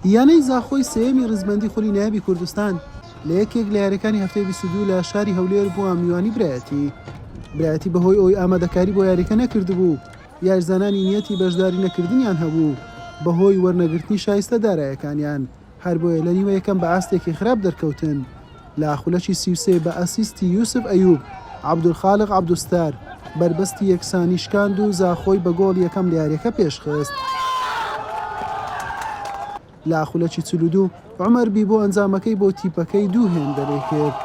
یانەی زاخۆی سێیەمی ڕیزبەندی خولی نایابی کوردستان لە یەکێک لە یاریەکانی هەفتەی 22 لە شاری هەولێر بووە میوانی برایەتی برایەتی بەهۆی ئەوی ئامادەکاری بۆ یاریەکە نەکردبوو یارزانانی نیەتی بەشداری نەکردنیان هەبوو بەهۆی وەرنەگرتنی شایستە دارایەکانیان هەر بۆیە لە نیوە یەکەم بە ئاستێکی خراپ دەرکەوتن لە خولەکی سی و سێ بە ئەسیستی یوسف ئەیوب، عەبدولخالق عەبدوستار بەربەستی یەکسانی شکاند و زاخۆی بە گۆڵی یەکەم لە یارییەکە پێشخست. لە خولەکی چل و دوو عومەر بیبۆ ئەنجامەکەی بۆ تیپەکەی دوو هێندەرەی کرد.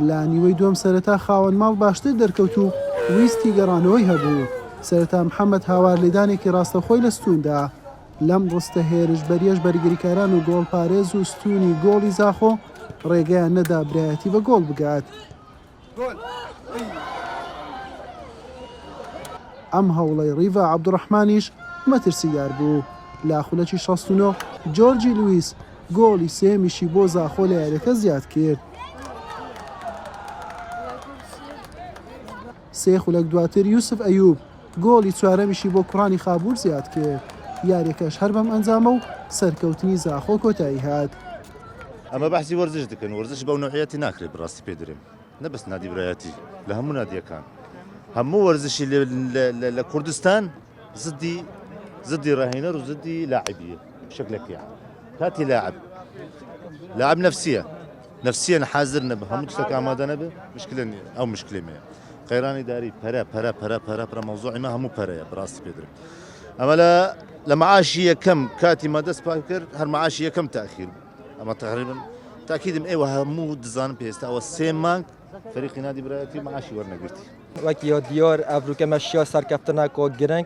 لە نیوەی دووەم سەرەتا خاوەن ماڵ باشتر دەرکەوت و ویستی گەڕانەوەی هەبوو، سەرەتا محەمەد هاوار لێدانێکی ڕاستەوخۆی لە ستوون دا، لەم ڕستە هێرشبەریەش بەرگریکاران و گۆڵپارێز و ستوونی گۆڵی زاخۆ ڕێگەیان نەدا برایەتی بە گۆڵ بگات. ئەم هەوڵەی ڕیڤا عەبدوڕەحمانیش مەترسیدار بوو، لە خولەکی شەست و نۆ جۆرجی لویس گۆڵی سێیەمیشی بۆ زاخۆ لە یارییەکە زیادکرد. سێ خولەک دواتر یوسف ئەیوب، گۆڵی چوارەمیشی بۆ کوڕانی خابوور زیاد کرد، یاریەکەش هەر بەم ئەنجامە و سەرکەوتنی زاخۆ کۆتایی هات. ئەمە بەحسی وەرزش دکەن وەرزش بەو نەوعیەتی ناکرێت بڕاستی پێ درێم نە بەس نادی برایەتی لە هەموو نادیەکان هەموو وەرزشی لە کوردستان زدی زدی ڕاهێنەر و زدی لاعبیە شکلەکەیان کاتی لاعب لاعب نفسیە نەفسیەن حازر نەبئ هەموو تشتەک ئامادە نەبئ مشکلە نیە ئەو مشکلەی مەیە قەیران ئیداری پەرە پەرە پەرە پەرە پرە مەوزوعی مە هەموو پەرەیە بڕاستی پێ درم ئەمە لە لە معاشی یەکەم کاتی مە دەست پاک کرد هەر معاشی یەکەم تاخیر ئەمە تقریبا تاکیدم ئێوە هەموو دزانم پێستا ئەوە سێ مانگ فەریقی نادی برایەتی معاشی وەرنەگرتی وەک یۆ دیۆر ئەڤروکە مەشیا سەرکەفتنە کۆ گرنگ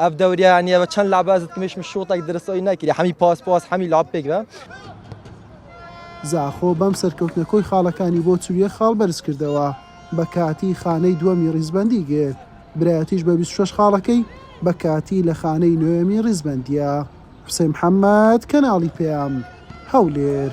ئەڤ دەوریا نیە بە چەند لابازت کمیش مشوتەک درست ئەوی نەکری حەمی پاس پاس حەمی لاب پێک بە زاخۆ بەم سەرکەوتنە کۆی خاڵەکانی بۆ چل و یەک خاڵ بەرز کردەوە بە کاتی خانەی دووەمی ڕیزبەندی گرت برایەتیش بە بیست و شەش خاڵەکەی بە کاتی لە خانەی نۆیەمی ڕیزبەندیە. حسین محمد کەناڵی پەیام. هەولێر.